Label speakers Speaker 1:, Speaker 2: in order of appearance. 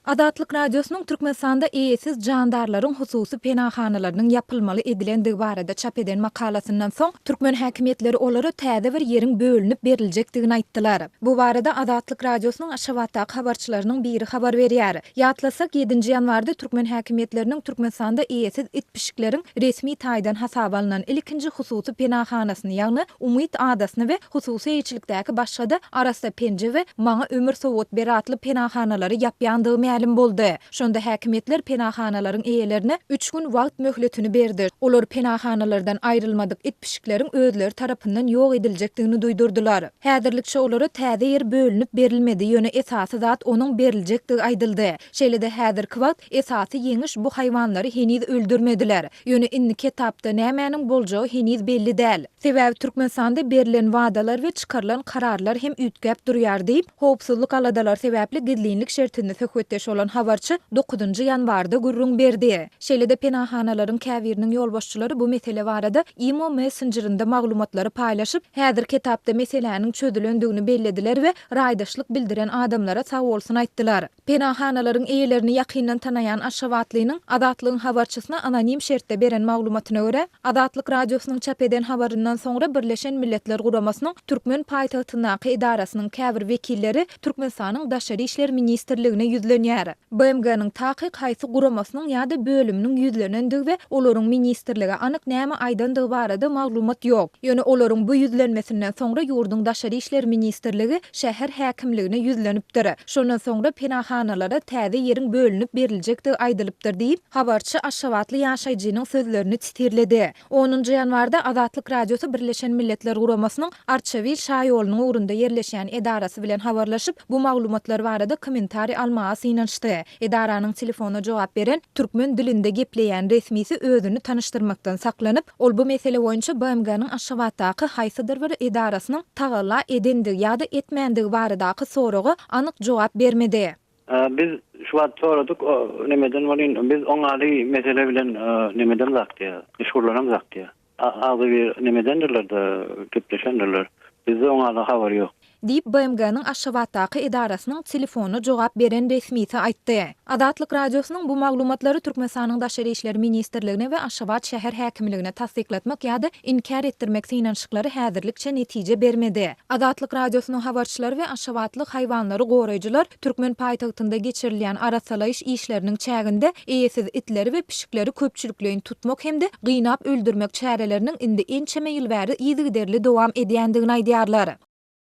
Speaker 1: Azatlyk Radiosynyň Türkmenistanda eýesiz jandarlaryň hususy penahanalarynyň ýapylmaly edilendigi barada çap eden makalasyndan soň, türkmen häkimiýetleri olara täze bir ýeriň bölünip beriljekdigini aýtdylar. Bu barada Azatlyk Radiosynyň Aşgabatdaky habarçylarynyň biri habar berýär. Ýatlasak, ýedinji ýanwarda türkmen häkimiýetleriniň Türkmenistanda eýesiz it-pişikleriň resmi taýdan hasaba alnan ilkinji hususy penahanasyny, ýagny Umyt adasyny we hususy eýeçilikdäki başga-da Arassa penje we Maňa ömür sowgat ber atly penahanalary ýapýandygy mälim boldy. Şonda häkimiýetler penahanalaryň eýelerine üç gün wagt möhletini berdi. Olar penahanalardan aýrylmadyk it-pişikleriň özleri tarapyndan ýok ediljekdigini duýdurdylar. Häzirlikçe olara täze ýer bölünip berilmedi, ýöne esasy zat onuň beriljekdigi aýdyldy. Şeýle-de häzirki wagt Esasy ýeňiş bu haýwanlary heniz öldürmediler. Ýöne indiki etapda nämäniň boljagy heniz belli däl. Sebäbi Türkmenistanda berlen wadalar we çykarylan kararlar hem üýtgäp durýar diýip, howpsuzlyk aladalary sebäpli gizlinlik şertinde söhbetdeş bolan habarçy dokuzynjy ýanwarda gürrüň berdi. Şeýle-de penahanalaryň käbiriniň ýolbaşçylary bu mesele barada Imo messenjerinde maglumatlary paýlaşyp, häzirki etapda meseläniň çözülendigini bellediler we raýdaşlyk bildiren adamlara sagbolsun aýtdylar. Penanhanalaryň eýelerini ýakyndan tanaýan aşgabatlynyň Azatlygyň habarçysyna anonim şertde beren maglumatyna görä, Azatlyk Radiosynyň çap eden habaryndan soňra Birleşen Milletler Guramasynyň türkmen paýtagtyndaky edarasynyň käbir wekilleri Türkmenistanyň Daşary işler ministrligine ýüzlenýär. BMG-niň takyk haýsy guramasynyň ýa-da bölüminiň ýüzlenendigi we olaryň ministrlige anyk näme aýdandygy barada maglumat ýok. Ýöne olaryň bu ýüzlenmesinden soňra ýurduň Daşary işler ministrligi şäher häkimligine ýüzlenipdir. Şondan soňra penahanalara täze ýeriň bölünip beriljekdigi aýdylypdyr diýip, habarçy aşgabatly ýaşaýjynyň sözlerini titirledi. Onunjy ýanwarda Azatlyk Radiosy Birleşen Milletler Guramasynyň Arçabil şaýolunyň ugrunda ýerleşýän edarasy bilen habarlaşyp, bu maglumatlar barada kommentariý almaga synanyşdy. Edaranyň telefona jogap beren, türkmen dilinde gepleýän resmisi özüni tanyşdyrmakdan saklanyp, ol bu mesele boýunça BMG-niň Aşgabatdaky haýsydyr bir edarasynyň Tagalla edendigi ýa-da etmändigi baradaky soraga anyk jogap bermedi. Biz
Speaker 2: şu wagt soradyk, o nemeden welin, biz oň ady mesele bilen nemedemzak diýýär, meşgullanamzak diýýär. Agzybir nemedendirler-de, gepleşendirler. Bizde oň ady habar ýok. Diýip, BMG-niň
Speaker 1: Aşgabatdaky edarasynyň telefona jogap beren resmisi aýtdy. Azatlyk Radiosynyň bu maglumatlary Türkmenistanyň Daşary işler ministrligine we Aşgabat şäher häkimligine tassyklatmak ýa-da inkär etdirmek synanyşyklary häzirlikçe netije bermedi. Azatlyk Radiosynyň habarçylary we aşgabatly haýwanlary goraýjylar türkmen paýtagtynda geçirilýän arassalaýyş işleriniň çäginde eýesiz itleri we pişikleri köpçülikleýin tutmak hem-de gynap öldürmek çäreleriniň indi ençeme ýyl bäri yzygiderli dowam edýändigini aýdýarlar.